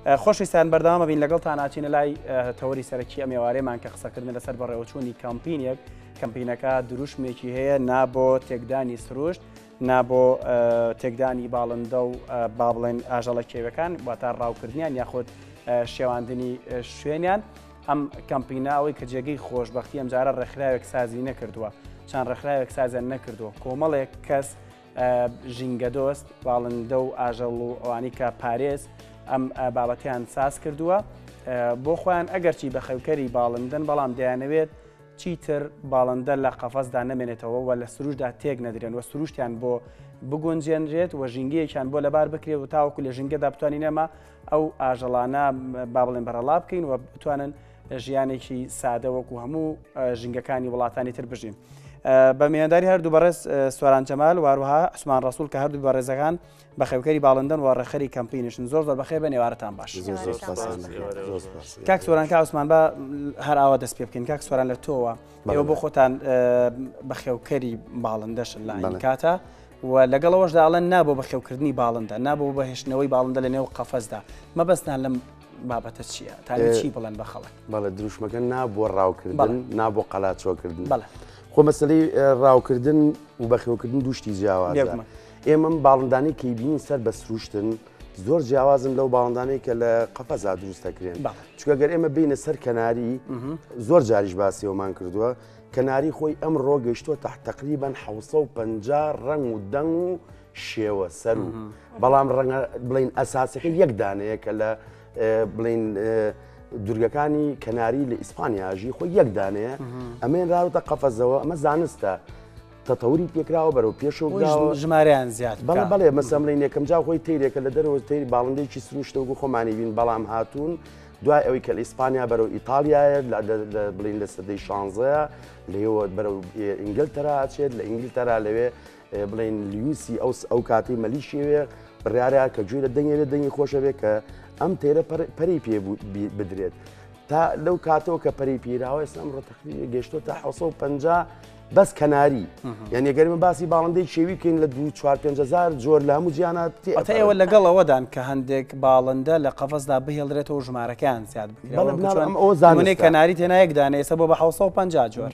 خۆشویستان بەردەوامە بین لەگەڵتان ئاچینە لای تەوەری سەرەکی ئەم ێوارێمان کە قسەکردن لەسەر بەڕێوەچوونی کەمپینێک کەمپینەکە دروشمێکی هەیە نابۆ تێکدانی سروشت نابۆ تێکدانی باڵندە و با بڵێن ئاژەڵە کێوەکان واتە ڕاوکردنیان یاخود شێواندنی شوێنیان ئەم کەمپیناوەی کە جێگەی خۆشببختی ئەمجارە ڕێکخراوێک سازی نەکردووە چەند ڕێکخراوێک سازیان نەکردووە کۆمەڵێک کەس ژینگەدۆست، باڵندە و ئاژەڵ و ئەوانی کە پارێز ئەم بابەتیان ساز کردووە بۆ خۆیان ئەگەرچی بە خەوکەری باڵندن بەڵام دەیانەوێت چیتر باڵندە لە قەفەزدا نەمێنێتەوە و لە سروشدا تێک نەدرێن و سروشتیان بۆ بگونجێنرێت و ژینگەیەکیان بۆ لەبار بکرێت و تاوەکو لە ژینگەدا بتوانین ئەمە ئەو ئاژەڵانە با بڵێن بەرەڵا بکەین و بتوانن ژیانێکی سادە وەکو هەموو ژنگەکانی وڵاتانی تر بژین. بە میێنداری هەردوو بەڕێز سۆران جەمال واروها عسمان ڕسول کە هەردوو بەڕێزەکان بە خێوکەری باڵندەن و ڕێخەری کەمپینشن زۆر زۆر بەخێ بە نێوارتان باش کاک سۆران کا عسمان بە هەر ئاوا دەست پێ بکەین کاک سۆران لە تۆوە ئێوە بۆ خۆتان بە خێوکەری باڵندەشن لە کاتە. و لەگەڵەوەش داڵێن نابوو بە خێوکردنی باڵندە نابوو بەهێشتنەوەی باڵندە لە نێو قەفەزدا مەبەستان لەم بابەتە چییە تا چی بڵێن بە خەڵک بەڵە دروشمەکە نا بۆ ڕاوکردن نا بۆ قەلاچۆکردن بەڵە خۆ مەسلەی ڕاوکردن و بەخێوکردن دوشتی جیاواز ئێمەم باڵندانی کەی بینین سەر بە سروشتن زۆر جیاوازن لەو باڵندانەی کە لە قەفەزا دروست دەکرێن چکە گەر ئێمە بینە سەر کەناری زۆر جاریش باسیەوەمان کردووە کەناری خۆی ئەم ڕۆگەشتۆ تاح تقریبان 500 ڕنگ و دەنگ و شێوە سەر و بەڵام ڕەنگە بڵین ئەساسەکە یەک دانەیە کە لە بڵین دورگەکانی کەناری لە ئیسپانیاژی خۆی یەک دانەیە ئەمێن راوتە قەفەزەوە ئەمە زانستە تەتەوری پێکراوە بەرەو پێشەوە ژماریان زیاد بەڵ بەڵێ مەسەملین یەکەم جا خۆی تیرێکە لە دەرەوە تری باڵندێکی سروشتەوەگو خۆمانی بین بەڵام هاتوون دوای ئەوی کە لە ئیسپانیا بەرەو ئیتالیایە بڵین لە سەدەی شانزەیە لەوە بەرەو ئینگلتەرا ئەچێت لە ئینگلتەرا لەوێ بڵێن لوسی ئەو ئەو کاتی مەلیشیوێ بڕارە کە گوێ لە دەنگێ لە دەنگی خۆشەوێ کە ئەم تێرە پەری پێ بدرێت تا لەو کاتەوە کە پەری پیراوە ئێسلام ڕۆتەخری گەشتۆ تا 1950 بەس کەناری یعنی گەرمە باسی باڵندەی شێوی کەین لە دو 4هزار جۆر لە هەموو جیانات ئەوە لەگەڵ ئەوەدان کە هەندێک باڵندە لە قەفەسدا بهێڵرێتەوە ژمارەکان زیاد بکەن ئەو زانێ کەناری تێنایەکدانێسە بۆ بە 1950 جۆر.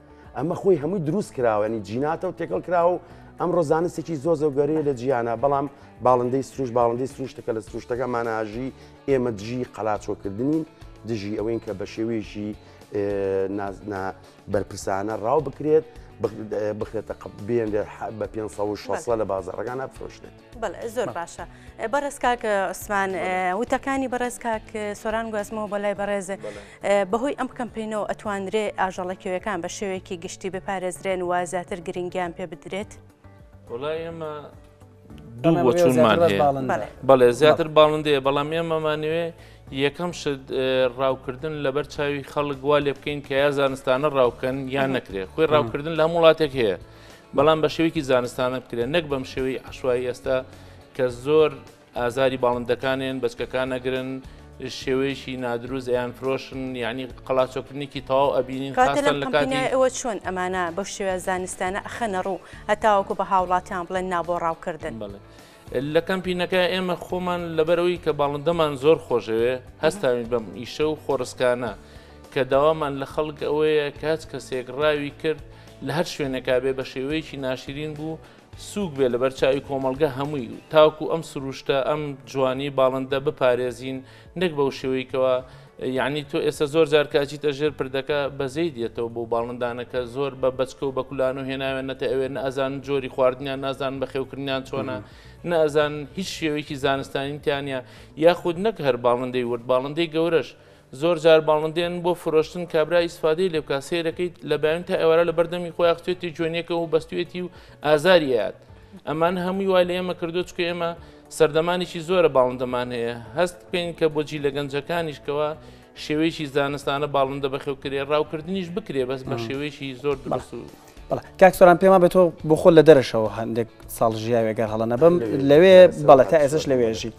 ئەمە خۆی هەمووی دروست کراوەنی جیناتە و تێکەڵ کراوە و ئەمڕۆ زانستێکی زۆ زۆ گەورەیە لە جیانە بەڵام باڵندەی سروش باڵندەی سروشتەکە لە سروشتەکە ماناژی ئێمە دژی قەلاچۆکردنین دژی ئەوەین کە بە شێوەیەشی نازنا بەرپرسانە ڕاو بکرێت بخرێتە قبێن بە 500 لە بازارەکان ئەفرۆشێت. بەڵێ زۆر باشە بەڕێز کاک عوسمان وتەکانی بەڕێز کاک سۆران گوازمەوە بە لای بەڕێز بەهۆی ئەم کەمپینەوە ئەتوانرێ ئاژەڵەکەوەکان بە شێوەیەکی گشتی بپارێزرێن و زیاتر گرنگیان پێ بدرێت وڵای ئێمە دوو بۆ چونمان بەڵێ زیاتر باڵندەیە بەڵام ئێمەمانوێ یەکەم شت ڕاوکردن لەبەر چاوی خەڵک وا لێ بکەین کە یا زانستانە ڕاوکەن یان نەکرێت خۆی ڕاوکردن لە هەم وڵاتێک هەیە بەڵام بە شێوەیەکی زانستانە بکرێن نەک بەم شێوەی عشوایی ئێستا کە زۆر ئازاری باڵندەکانێن بەچکەکان نەگرن شێوەیەشی نادروست ئەیان فرۆشن یعنی قەڵاچۆکردنیکی تەواو ئەبینین خاستن لە کاتیەوە چۆن ئەمانە بە شێوە زانستانە ئەخەنە ڕوو هەتاوەکو بە هاوڵاتیان بڵێن نابۆ ڕاوکردن بڵێ. لە کەمپینەکە ئێمە خۆمان لەبەرئەوەی کە باڵندەمان زۆر خۆشدەوێت هەستاوین بەم ئیشە و خۆڕسکانە کە داوامان لە خەڵک ئەوەیە کە هەچ کەسێک ڕاوی کرد لە هەر شوێنێکا بێ بە شێوەیەکی ناشرین بوو سووک بێ لەبەر چاوی کۆمەڵگە هەمووی تاکو ئەم سروشتە ئەم جوانی باڵندە بپارێزین نەک بەو شێوەی کەوا یعنی تۆ ئێستا زۆر جار کاچیتە ژێر پردەکە بەزەی دێتەوە بۆ باڵندانەکە زۆر بە بچکە و بەکولان و هێناوێن نەتە ئەوێن ئازان جۆری خواردنیان نازان بە خێوکردنیان چۆنە نازان هیچ شێوەیەکی زانستانیتیانە یاخود نەک هەر باڵندەی ورد باڵندەی گەورەش زۆر جار باڵندێن بۆ فرۆشتن کابرا ئیسفادەی لێ بکە سێرەکەیت لە بەیان تا ئێوارە لە بەردەمی خۆی ئەخچێتی جوێنەکە و بەستێتی و ئازاریات ئەمان هەمووی وا لە ئێمە کردو چکە ئێمە سەردەمانێکی زۆرە باڵندەمان هەیە، هەست بکەین کە بۆ جیلە گەنجەکانیش کەوا شێوەیەکی زانستانە باڵندە بەخێوکرێ ڕاوکردنیش بکرێ بەس بە شێوەیەکی زۆر دروست و بەڵێ کاک سۆران پێما بە تۆ بۆ خۆ لە دەرەشەوە هەندێک ساڵ ژیاوێ گەر هەڵە نەبم لەوێ بەڵێ تا ئێسش لەوێژی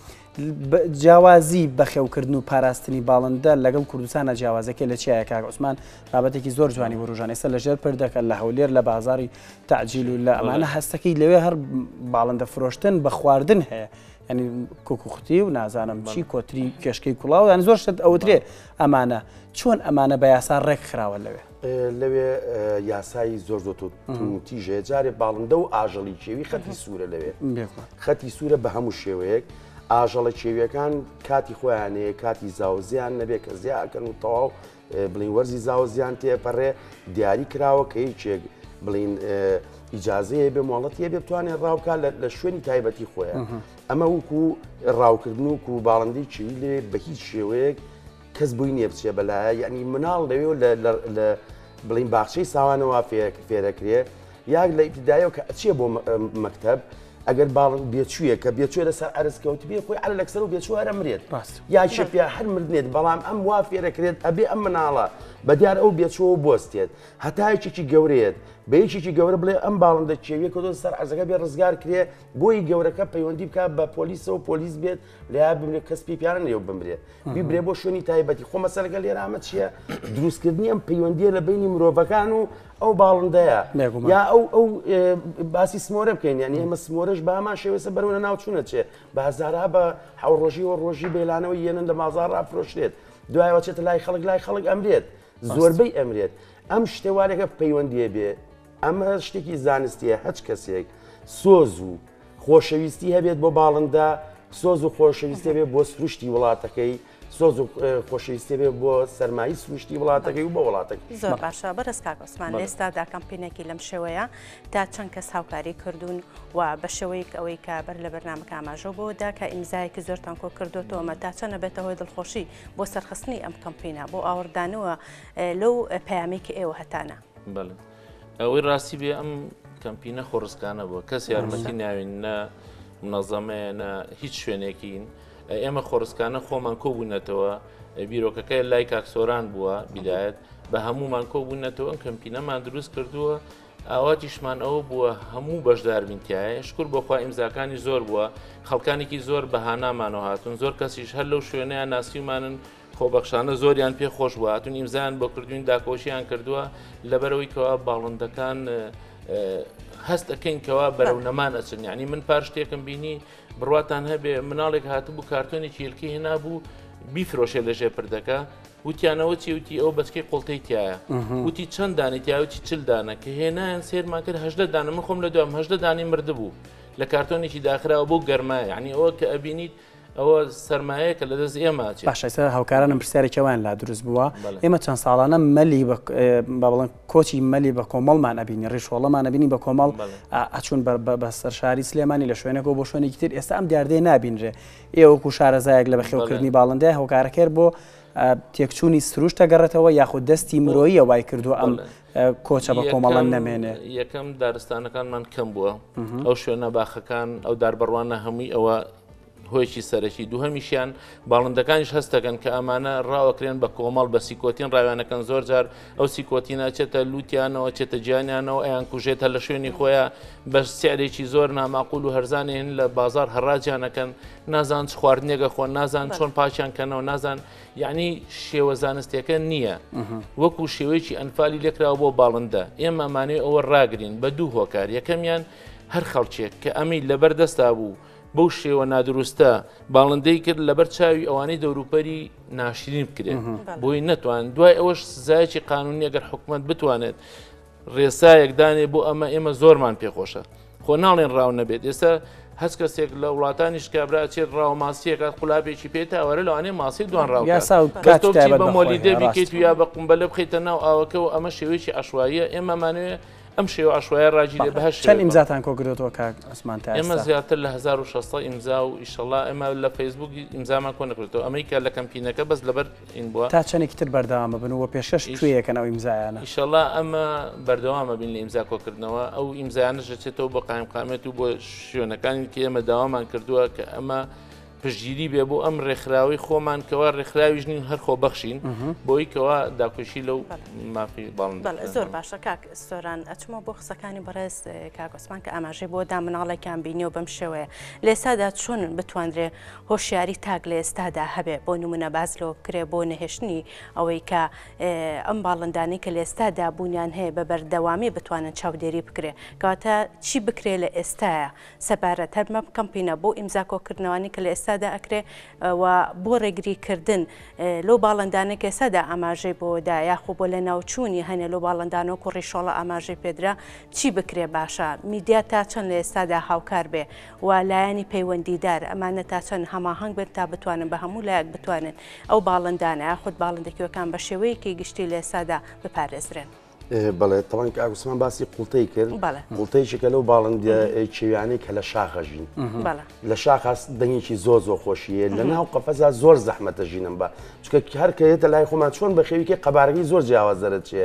جیاوازی بەخێوکردن و پاراستنی باڵندە لەگەڵ کوردستانە جیاوازەکە لە چیایە کاک عوسمان بابەتێکی زۆر جوانی وروژان ئێستا لەژێر پردەکە لە هەولێر لە بازاری تعجیل اللە ئەمانە هەستەکەی لەوێ هەر باڵندە فرۆشتن بە خواردن هەیە ینی کوکوختی و نازانم چی کۆتری کێشکەی کوڵاو یان زۆر شت ئەوترێ ئەمانە چۆن ئەمانە بە یاسا ڕێک خراوە لەوێ لەوێ یاسایی زۆر زۆر تیژێ جارێ باڵندە و ئاژەڵی کێوی خەتی سوورە لەوێ خەتی سوورە بە هەموو شێوەیەک ئاژەڵە کێویەکان کاتی خۆیانەیە کاتی زاوزیان نەبێ کە زیاکەن و تەواو بڵین وەرزی زاوە زیان تێپەڕێ دیاری کراوە کە هیچێک بڵین ئیجاازەیە بێ مۆڵەتە بێ بتوانێت ڕاوکە لە شوێنی تایبەتی خۆیان ئەمە وکو ڕاوکردن و و باڵندی چی لێ بە هیچ شێوەیەک کەس بووی نیە بچێ بەلایە یعنی مناڵ لەوێ لە بڵین باخچەی ساوانەوە فێرەکرێ یاک لە ئیبتیدایەوە کە ئەچیە بۆ مەکتەب ئەگەر باڵ بێچوویە کە بێچێ لەسەر ئەرز کەوتبێ خۆی ئەل لەکسەر و بێچوو هەرە مرێت ڕاست یاکێ پێ هەر مردێت بەڵام ئەم وا فێرەکرێت ئەبێ ئەم مناڵە بە دیار ئەو بێچوو بستێت هەتایکێکی گەورەیەت بە یەکێکی گەورە بڵێ ئەم باڵندە کێویە کە دۆ سەر ئەزەکە بێ ڕزگار کرێ بۆی گەورەکە پەیوەندی بکە بە پۆلیسەوە پۆلیس بێت لەیاد بمرێ کەس پێی پیانە لێو بمرێ بیبرێ بۆ شوێنی تایبەتی خۆ مەسەرەکە لێرامە چییە دروستکردنی ئەم پەیوەندیە لە بینی مرۆڤەکان و ئەو باڵندەیە یا ئەو ئەو باسی سمۆرە بکەین یان ئێمە سمۆرەش بامان شێوێسە بەرەوە ناوچوونە چێ بە هەزارها بە حوڕۆژی و ڕۆژی بێلانەوە یەنن لە مازار ڕافرۆشرێت دوایەوە چێتە لای خەڵک لای خەڵک ئەمرێت زۆربەی ئەمرێت ئەم شتێوالێکە پەیوەندیە بێ ئەمە شتێکی زانستیە هەچ کەسێک سۆز و خۆشەویستی هەبێت بۆ باڵندە سۆز و خۆشەویستێ بێ بۆ سروشتی وڵاتەکەی سۆز و خۆشەویستێ بێ بۆ سەرمایی سروشتی وڵاتەکەی و بە وڵاتەکە زۆر باشە بەرز کاکۆسمان لێستادا کەمپینێکی لەم شێوەیە تا چەند کەس هاوکاری کردوون و بە شێوەیەک ئەوەی کە بەر لە بەرنمەکە ئاماژۆ بۆ دا کە ئیمزایەکی زۆر تانکۆ کردوتەوەمە تا چەنە بێتە هۆی دڵخۆشی بۆ سەرخستنی ئەم کەمپینە بۆ ئاوردانەوە لەو پامێکی ئێوە هەتانە. ئەوەی ڕاستی بێ ئەم کەمپینە خۆڕسکانە بووە کەس یارمەتی ناوین نە منەزەمەیە نە هیچ شوێنێکین ئێمە خۆڕسکانە خۆمان کۆبوونەتەوە بیرۆکەکەی لای کاکسۆران بووە بدایەت بە هەمومان کۆبوونەتەوە ئەم کەمپینەمان دروست کردووە ئاواتیشمان ئەوە بووە هەموو بەشداربینتیایە شکر بۆخوا ئیمزاکانی زۆر بووە خەڵکانێکی زۆر بەهانامانەوە هاتون زۆر کەسیش هەر لەو شوێنیان ناسیمانن خۆبەخشانە زۆریان پێ خۆش بوو هاتون ئیمزان بۆ کردوین داکۆشیان کردووە لەبەرەوەی کەوا باڵندەکان هەست ئەەکەین کەوا بەرەو نەمان ئەچن ینی من پار شتێکم بینی بڕاتان هەبێ مناڵێک هاتبوو کارتۆنی چیلکی هێنا بوو بیفرۆشێ لە ژێ پردەکە وتیانەوە چی وتی ئەو بەچکی قوڵتەی تایە وتی چەند دانی تیاوتی چل دانە کە هێنایان سێرمان کرد هەدە دانە من خۆم لە دوام هەدە دانی مردبوو لە کارتۆنێکی داخراوە بۆ گەرمای عنی ئەوە کە ئەبینیت ئەوە سەرمایە کە لە دەست ئێمە ئەچێت. باشە ئێستا هاوکارانم پرسیارێکی وایان لا دروست بووە، ئێمە چەند ساڵانە مەلی بە با بڵێم کۆچی مەلی بە کۆمەڵمان ئەبینی، ڕیشۆڵەمان ئەبینی بە کۆمەڵ ئەچوون بە سەر شاری سلێمانی لە شوێنێکەوە بۆ شوێنێکی تر، ئێستا ئەم دیاردەیە نابینرێ. ئێوە وەکوو شارەزایەک لە بەخێوکردنی باڵندەیە هۆکارەکەی بۆ تێکچوونی سروشت دەگەڕێتەوە یاخود دەستی مرۆییە وای کردووە ئەم کۆچە بە کۆمەڵە نەمێنێ یەکەم دارستانەکانمان کەم بووە ئەو شوێنە باخەکان ئەو داربڕوانە هەمووی ئەوە هۆیکی سەرەکی دووهمیشیان باڵندەکانیش هەستەکەن کە ئەمانە ڕاوەکرێن بە کۆمەڵ بە سیکۆتین ڕاوێنەکەن زۆر جار ئەو سیکۆتینە چێتە لووتیانەوە چێتە گیانیانەوە ئەیان کوژێت هە لە شوێنی خۆیان بە سیارێکی زۆر ناماقول و هەرزانێ هەن لە بازار هەڕاجانەکەن نازان چ خواردنێگە خۆن نازان چۆن پاشیان کەنەوە نازان یعنی شێوە زانستیەکە نییە وەکو شێوەیەکی ئەنفالی لێکراوە بۆ باڵندە ئێمە مانێ ئەوە ڕاگرین بە دوو هۆکار یەکەمیان هەر خەڵکێک کە ئەمی لەبەر دەستا بوو بەو شێوە نادروستە باڵندەی کرد لەبەر چاوی ئەوانەی دەوروپەری ناشرین بکرێن بۆی نەتوان دوای ئەوەش سزایەکی قانونی ئەگەر حکومت بتوانێت ڕێسایەک دانێ بۆ ئەمە ئێمە زۆرمان پێخۆشە خۆ ناڵێن ڕاو نەبێت ئێستا هەست کەسێک لە وڵاتانیش کابرا چێت ڕاو ماسیەکات قولابێکی پێ تاوەرە لەوانێ ماسی دوان ڕاو بە مۆلی دەبیکەیت و یا بە قمبەلە بخیتە ناو ئاوەکەەوە ئەمە شێوەیەکی عشواییە ئێمەمانوێ ئەم شێوە عشوایە ڕاجی لێ بەهش چەند ئیمزاتان کۆگرێتەوە کاک ئەسمان تا ئێمە زیاتر لە 1600 ئیمزا و ئیشەڵا ئێمە لە فەیسبوک ئیمزامان کۆ نەکرێتەوە ئەمریکا لە کەمپینەکە بەس لەبەر تا چەنێکی تر بەردەوام ببن و پێشکەش کوێ یەکەن ئەو ئیمزایانە؟ ئیشەڵا ئەمە بەردەوامە بین لە ئیمزا کۆکردنەوە ئەو ئیمزانە ژەچێتەوە بۆ قایمقامێت و بۆ شوێنەکانی کە ئێمە داوامان کردووە کە ئەمە پشگیری بێ بۆ ئەم ڕێکخراوی خۆمان کەوا ڕێکخراویش نین هەر خۆ بەخشین بۆی کەوا داکۆشی لەو مافی باڵ زۆر باشە کاک سۆران ئەچمە بۆ قسەکانی بەڕێز کاگۆسمان کە ئاماژەی بۆ دا مناڵێکیان بینی و بەم شێوەیە لێسادا چۆن بتواندرێ هۆشیاری تاک لە ئێستادا هەبێ بۆ نمونە باس لەوە بکرێ بۆ نەهێشتنی ئەوەی کە ئەم باڵندانەی کە لە ئێستادا بوونیان هەیە بە بەردەوامی بتوانن چاودێری بکرێ کەواتە چی بکرێ لە ئێستاە سەبارەت هەر بەم کەمپینە بۆ ئیمزا کۆکردنەوانی کە لە ئێستادا ئەکرێ و بۆ ڕێگری کردن لەو باڵندانە کە ئێستادا ئاماژەی بۆدا یاخۆ بۆ لە ناوچوونی هەنێ لەو باڵندان و کوڕی شۆڵە ئاماژەی پێدرا چی بکرێ باشە میدیا تا چەند لە ئێستادا هاوکار بێ و لایەنی پەیوەندیدار، ئەمانە تا چەند هەماهەنگ بن تا بتوانن بە هەموو لایەک بتوانن ئەو باڵندانە یاخود باڵندە کیوەکان بە شێوەیەکی گشتی لە ئێستادا بپارێزرێن. بەڵێ تەوان کە ئاگوستمان باسی قوڵتەی کرد قوڵتەیشێکە لەو باڵندە کێویانەی کە لە شاخە ژین لە شاخاس دەنگێکی زۆ زۆ خۆشیە لە ناو قەفەزا زۆر زەحمەتە ژینم بە چکە هەرکەێتە لای خۆمان چۆن بە خێویکە قەبارەکەی زۆر جیاواز دەرەچێ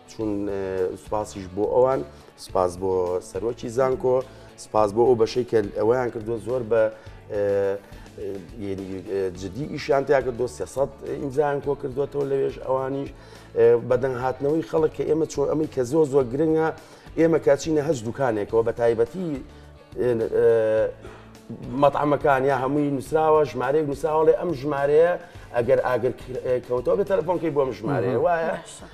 چون سوپاسیش بۆ ئەوان سپاس بۆ سەرۆکی زانکۆ سپاس بۆ ئەو بەشەی کە ئەویان کردو زۆر بە جددی ئیشیان تیا کردو سێسەد ئینجان کۆ کردوێتەوە لەوێش ئەوانیش بەدەنگ هاتنەوەی خەڵک کە ئێمە چۆن ئەمەی کە زۆر زۆر گرنگە ئێمە کاچینە هەز دوکانێکەوە بە تایبەتی مەتعمەکان یا هەمووی نووسراوە ژمارەیەک نووسراوەڵێ ئەم ژمارەیە ئەگەر ئاگر کەوتەوە بە تەلەفۆنکەی بۆم ژمارەیە وایە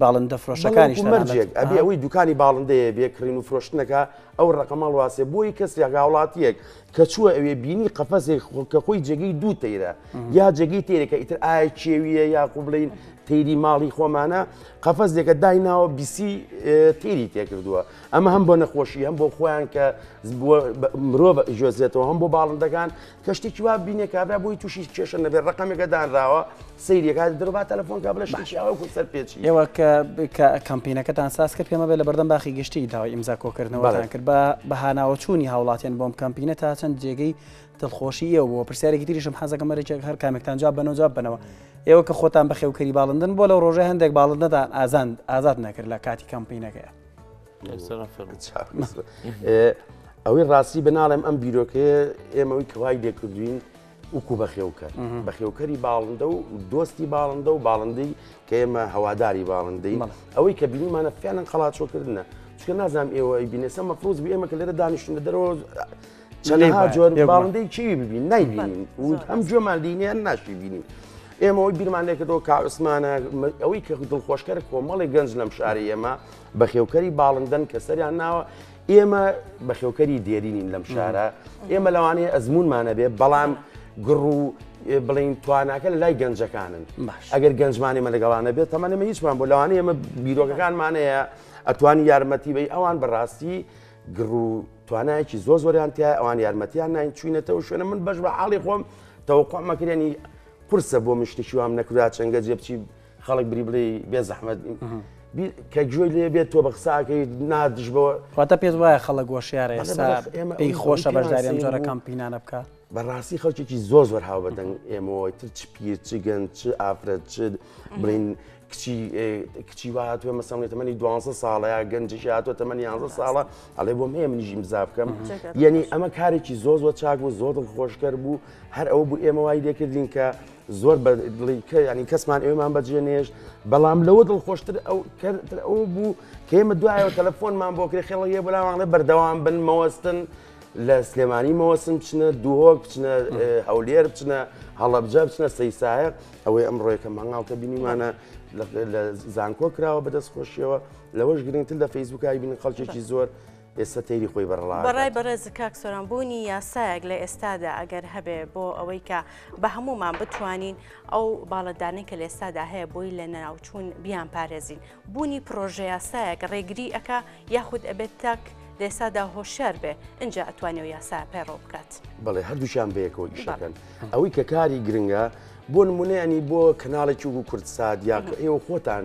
باڵندە فرۆشەکانیش مەرجێک ئەبێ ئەوەی دوکانی باڵندەیە بێ کڕین و فرۆشتنەکە ئەو ڕقەمەڵ واسێ بۆی کەسێک هاوڵاتیەک کە چووە ئەوێ بینی قەفەسێک کە خۆی جێگەی دوو تەیرە یا جێگەی تێرەکە ئیتر ئایا کێویە یا قوبلین تیری ماڵی خۆمانە قەفەزێکە دایناوە بیسی تیری تێکردووە ئەمە هەم بۆ نەخۆشی هەم بۆ خۆیان کە مرۆڤ جۆزێتەوە هەم بۆ باڵندەکان کە شتێکی وا بینێ کابرا بۆی تووشی کێشە نەبێت ڕقەمێکە دانراوە سەیرێکا درۆبا تەلەفۆن کا بڵێ شتێکی ئەوە کو سەر پێچی ئێوە کە کەمپینەکەتان ساز کرد پێمە بێ لە بەردەم باخی گشتی داوای ئیمزا کۆکردنەوەتان کرد بە بەهاناوە چوونی هاوڵاتیان بۆم کەمپینە تا چەند جێگەی دڵخۆشی ئێوە بۆ پرسیارێکی تریشم حەزەکە مەرەێک هەر کامێکتان جواب بەەوە جواب بنەوە ئێوە کە خۆتان بەخێوکەری باڵندن بۆ لەو ڕۆژە هەندێک باڵندەتان ئازان ئازاد نەکرد لە کاتی کەمپینەکەیە ئەوەی ڕاستی بناڵێم ئەم بیرۆکەیە ئێمەوەی کەوای لێکردوین وکو بەخێوکە بەخێوکەری باڵندە و دۆستی باڵندە و باڵندەی کە ئێمە هەواداری باڵندەی ئەوەی کە بینیمانە فیانن قەڵاچۆکردە چکە نازانام ئێوە بینێسە مەفروز بێ ئێمە کە لێرە دانیشتن لە دەرەوە چەندها جۆر باڵندەی چی ببین نایبینین ئەم جۆمان دینیان ناشی بینین. ئێمەەوەی بیرمان لێکردەوە کاعسمانە ئەوەی کە دڵخۆشکەر کۆمەڵی گەنج لەم شاری ئێمە بەخێوکەری باڵندەن کە سەریان ناوە ئێمە بەخێوکەری دێرینین لەم شارە ئێمە لەوانەیە ئەزمونمانە بێ بەڵام گڕ و بڵین تواناکە لە لای گەنجەکانن ئەگەر گەنجمانی مە لەگەڵانە بێت تەمەەمە هیچمان بۆ لەوانەیە ئمە بیرۆکەکانمانەیە ئەتوانی یارمەتی بی ئەوان بەڕاستی گڕ و توانایکی زۆ زۆریان تیا ئەوان یارمەتیان نین چوینەتەوە شوێنە من بەش بە حاڵی خۆم تەوەقۆمەکرێنی قرسە بۆ مشتشیوام نەکرا چەنگە جێبچی خەڵک بری بڵێ بێ زەحمەت کە گوێی لێ بێت تۆ بە قساکەی نادش بەوە واتە پێت وایە خەڵک گۆشیارە ئێستا پێی خۆشە بەشداری ئەم جۆرە کەمپینانە بکە بەڕاستی خەڵکێکی زۆر زۆر هاو بەدەنگ ئێمەوەی تر چ پیر چ گەن چ ئافرەت چ بڵین کچی کچی وا هاتووە مەسەڵێ تەمەنی دو ساڵە یا گەنجش هاتووە تەمەنی یانزە ساڵە ئەڵێ بۆم هەیە منیژی مزا بکەم یعنی ئەمە کارێکی زۆر زۆر چاک بوو زۆر خۆشکەر بوو هەر ئەو بوو ئێمە وای لێکردین کە زۆر بە دڵی کە ینی کەسمان ئێمان بەجێ نێشت بەڵام لەوە دڵخۆشتر ئەو کەتر ئەو بوو کێمە دوایەوە تەلەفۆنمان بۆ کرێ خێڵە یە بەلاوانڵێ بەردەوام بن مەوەستن لە سلێمانی مەوەسم بچنە دوهۆک بچنە هەولێر بچنە هەڵەبجە بچنە سەیسایە ئەوەی ئەم ڕۆیکە مەنگاڵکە بینیمانە لە زانکۆ کراوە بەدەست خۆشیەوە لەوەش گرنگتر لە فەیسبوکای بین خەڵکێکی زۆر ئێستا تەیری خۆی بەرەڵا دەکات. بەڕای بەڕێز کاک سۆران بوونی یاسایەک لە ئێستادا ئەگەر هەبێ بۆ ئەوەی کە بە هەموومان بتوانین ئەو باڵەدانەی کە لە ئێستادا هەیە بۆی لە نەناوچوون بیان پارێزین بوونی پرۆژە یاسایەک ڕێگری ئەکا یاخود ئەبێت تاک لە ئێستادا هۆشیار بێ ئینجا ئەتوانێ و یاسا پەیڕەو بکات. بەڵێ هەردووشیان بەیەکەوە ئیشەکەن ئەوەی کە کاری گرنگە بۆ نمونەیەنی بۆ کەناڵێکی وکو کوردسات یا کە ئێوە خۆتان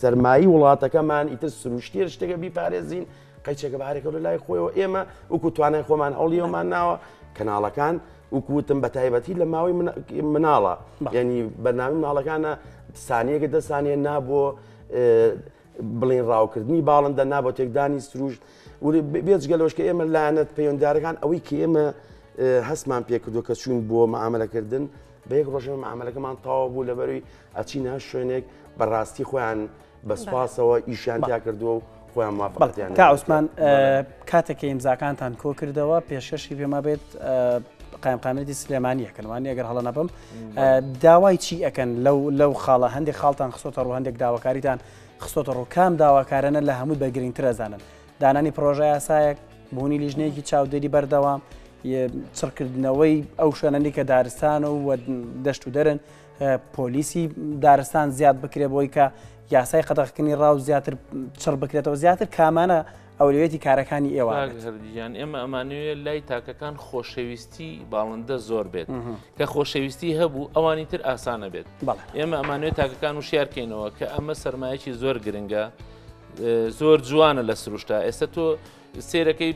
سەرمایی وڵاتەکەمان ئیتر سروشتیە شتێکە بیپارێزین قەیچەکە بارێکە لە لای خۆیەوە ئێمە وکو توانای خۆمان هەوڵیەوەمان ناوە کەناڵەکان وکوتم بە تایبەتی لە ماوەی مناڵە ینی بەنامی مناڵەکانە سانیەکە دە سانیە نابووە بڵین ڕاوکردنی باڵندە نابۆ تێکدانی سروشت بێجگە لەشکە ئێمە لایەنەت پەیوەندارەکان ئەوەی کە ئێمە هەستمان پێکردو کە چوون بۆ مامەلەکردن بە یەک ڕۆژەوە معاملەکەمان تاوا بوو لەبەروی ئەچین هەر شوێنێک بەڕاستی خۆیان بەسپاسەوە ئیشیان تیا کردووە و خۆیان مافەتیان تا عوسمان کاتێککە ئیمزاکانتان کۆ کردەوە پێشکەشی پێما بێت قایمقامێتی سلێمانیە کەنوانی ئەگەر هەڵە نەبم داوای چی ئەەکەن لەو لەو خاڵە هەندێک خاڵتان خسۆتە ڕوو هەندێک داواکاریتان خسۆتە ڕوو کام داواکارانە لە هەموو بەگرنگترەزانن دانانی پڕۆژەیاسایەک، بوونی لیژنەیەکی چاودێری بەردەوام، چڕکردنەوەی ئەو شوێنەنی کە دارستان و دەشت و دەرن پۆلیسی دارستان زیاد بکرێ بۆی کە یاسای قەدەخکردنی ڕاو زیاتر چڕ بکرێتەوە زیاتر کامانە ئەولوێتی کارەکانی ئێوە هەردیان ئێمە ئەمانوێت لای تاکەکان خۆشەویستی باڵندە زۆر بێت کە خۆشەویستی هەبوو ئەوانی تر ئاسانە بێت ئێمە ئەمانوێت تاکەکان و شارکەینەوە کە ئەمە سەرمایەکی زۆر گرنگە زۆر جوانە لە سروشتا ئێستا تۆ سێرەکەی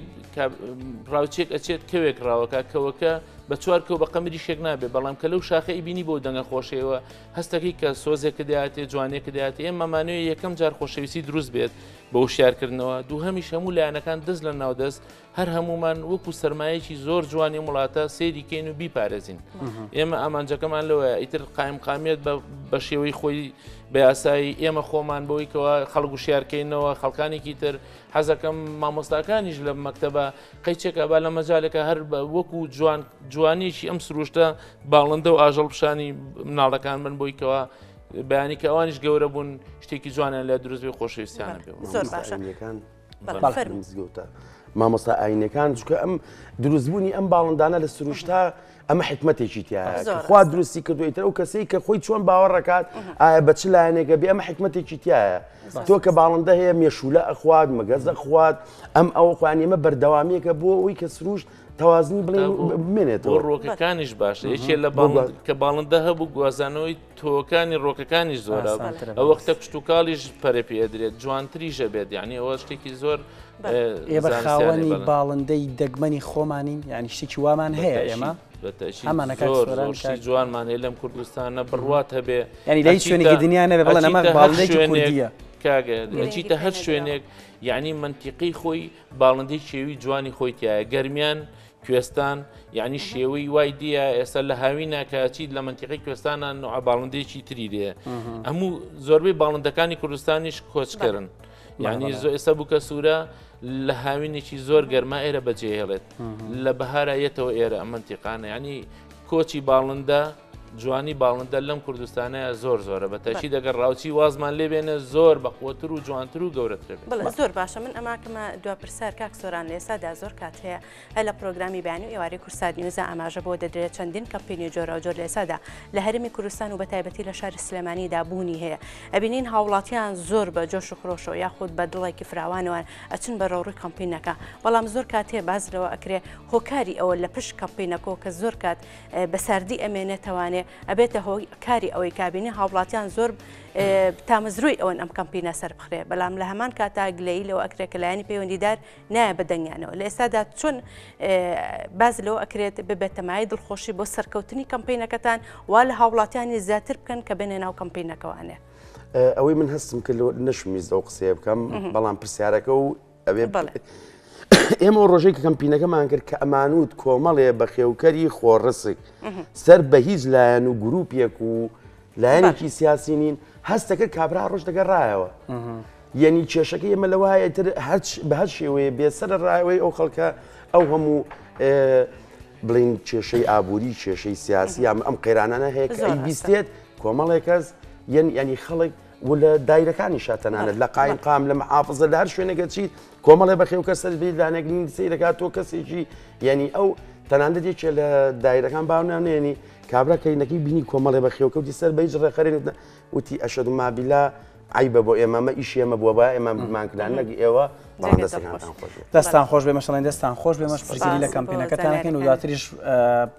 ڕاوچێک ئەچێت کەوێک ڕاوەکە کەوەکە بە چوار کەو بە قەمری شێک نابێ بەڵام کە لەو شاخەی بینی بۆ دەنگە خۆشەوە هەستەکەی کە سۆزێکە دەاتێ جوانێکە دەات ئێمە مانوێ یەکەم جار خۆشەویستی دروست بێت بە وشارکردنەوە دوو هەمیش هەموو لایەنەکان دەست لە ناودەست هەر هەموومان وەکو سەرمایەکی زۆر جوانی ئەم وڵاتە سەیری کەین و بیپارێزین ئێمە ئامانجەکەمان لەوەیە ئیتر قایم قامیت بە شێوەی خۆی بە یاسایی ئێمە خۆمان بۆی کەەوە خەڵک و شارکەینەوە خەڵکانێکی تر حەزەکەم مامۆستاکانیش لە مەکتتەبە قەیچێکە با لە مەجالەکە هەر بە وەکو جوان جوانیشی ئەم سروشتە باڵندە و ئاژەڵ پیشانی مناڵەکان من بۆی کەەوە بەیانی کە ئەوانیش گەورە بوون شتێکی جوانیان لە دروستبی خۆشەویستیانە پێ زۆر باشەکان. مزگەوتە مامۆستا ئاینەکان چکە ئەم دروستبوونی ئەم باڵندانە لە سروشتا ئەمە حکمتێکی تیا خوا دروستی کردویتە ئەو کەسەی کە خۆی چۆن باوەڕەکات ئایا بە چ لایەنێکە بێ ئەمە حکمتێکی تایە تۆ کە باڵندە هەیە مێشولە ئەخوات مەگەزە خوات ئەم ئەو خوانیمە بەردەوامیەکە بۆ ئەوی کە سروشت تەوازنی بڵێ بمێنێتەوە ڕۆکەکانیش باشە یەکێ لە باڵ کە باڵندە هەبوو گوازانەوەی تۆوەکانی ڕۆکەکانیش زۆرە ئە وەختە کشتتوکاڵیش پەرە پێ ئەدرێت جوانتریژە بێت یعنی ئەوە شتێکی زۆر ئێبەرخاوەنی باڵندەی دەگمەنی خۆمانین یعنی شتێکی وامان هەیە ئێمە ئەمانەکەشی جوانمان هەیە لەم کوردستانە بڕوات هەبێ ینی لە شوێنێکی دنیا نەبێ بڵێ ئەمە باڵندێکە کاگەچیتە هەر شوێنێک یعنی منتیقی خۆی باڵندی شێوی جوانی خۆی تایە گەرمیان کوێستان یعنی شێوەی وای دیە ئێستا لە هاوینە کە چیت لە منتیقی کوێستانە نوع باڵندێکی تری دێ هەموو زۆربەی باڵندەکانی کوردستانیش کۆچکردن یعنی زۆ ئێستا بووکە سوورە لە هاوینێکی زۆر گەرما ئێرە بەجێهێڵێت لە بەهارایەتەوە ئێرە ئەمەنتیقانە ینی کۆچی باڵندە جوانی باڵندە لەم کوردستانەیە زۆر زۆرە بە تەکی دەگەر ڕاوچی وازمان لێ بێنە زۆر بەقوتر و جوانتر و گەورەترە بڵێ زۆر باشە من ئەماکەمە دو پرسار کاک سۆران لێسادا زۆر کات هەیە هە لە پرۆگرامی بانی و ئێوارەی کورسار نیوزە ئاماژە بۆ دەدرێت چەندین کەمپینی جۆرا جۆر لێسادا لە هەرمی کوردستان و بە تایبەتی لە شاری سلێمانیدا بوونی هەیە ئەبینین هاوڵاتیان زۆر بە جۆش و خرۆشەوە یاخود بە دڵێکی فراوانەوەن ئەچن بە ڕەوڕی کەمپینەکە بەڵام زۆر کاتێ باز لەوە ئەکرێ هۆکاری ئەوە لە پشت کەمپینەکۆ کە زۆر کات بە ساردی ئەمێ نەتەوانێ ئەبێتە هۆ کاری ئەوەی کابینی هاوڵاتیان زۆر تامەزرۆی ئەوەن ئەم کەمپینە سەر بخرێ بەڵام لە هەمان کاتا گلەی لەو ئەکرێ کە لایەنی پەیوەندیدار نایە بە دەنگیانەوە لە ئێستادا چۆن باز لەوە ئەکرێت ببێتەمای دڵخۆشی بۆ سەرکەوتنی کەمپینەکەتان وا لە هاوڵاتیانی زیاتر بکەن کە بێنێ ناو کەمپینەکەوانێ ئەوەی من هەستم کرد نەشمیز ئەو قسەیە بکەم بەڵام پرسیارەکە و ئەوێ ئێمە ڕۆژێک کەمپینەکەمان کرد کە ئەمانوت کۆمەڵێ بە خێوکەری خۆڕسک سەر بە هیچ لایەن و گروپێک و لایەنێکی سیاسی نین هەستەکە کابرا ڕۆژ دەگەڕایەوە یعنی کێشەکە ئێمە لە وایە تر هەچ بە هەر شێوەیە بێسەر ڕایەوەی ئەو خەڵکە ئەو هەموو بڵین کێشەی ئابووری کێشەی سیاسی یام ئەم قەیرانانە هەیە بیستێت کۆمەڵێک کەس یەن ینی خەڵک و لە دایرەکانیشا تەنانەت لە قایمقام لە محافظە لە هەر شوێنێک ئەچیت کۆمەڵێ بەخێوکەر سەرت بێت لانێک نین سەی دەکات تۆ کەسێکی یعنی ئەو تەنانەت یەکێ لە دایرەکان باونانێنی کابرا کەینەکەی بینی کۆمەڵێ بەخێوکەوتی سەر بە هیچ ڕێخەرێنت نە وتی ئەشەد و مابیلا عیبە بۆ ئێمەمە ئیش ئێمە بووە با ئێمە بمان کران نەک ئێوە بەڵام دەستەکانتان خۆش بێت. دەستتان خۆش بێ مەشڵێن دەستان خۆش بێ مەش پرسیاری لە کەمپینەکەتانەکەین و دواتریش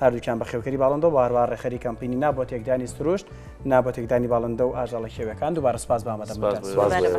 هەردووکیان بەخێوکەری باڵندەو هەروەها ڕێکخەری کەمپینی نا بۆ تێکدانی سروشت، نا بۆ تێکدانی باڵندە و ئاژەڵە خێویەکان، دووبارە سوپاس بە ئامادەبوونتان.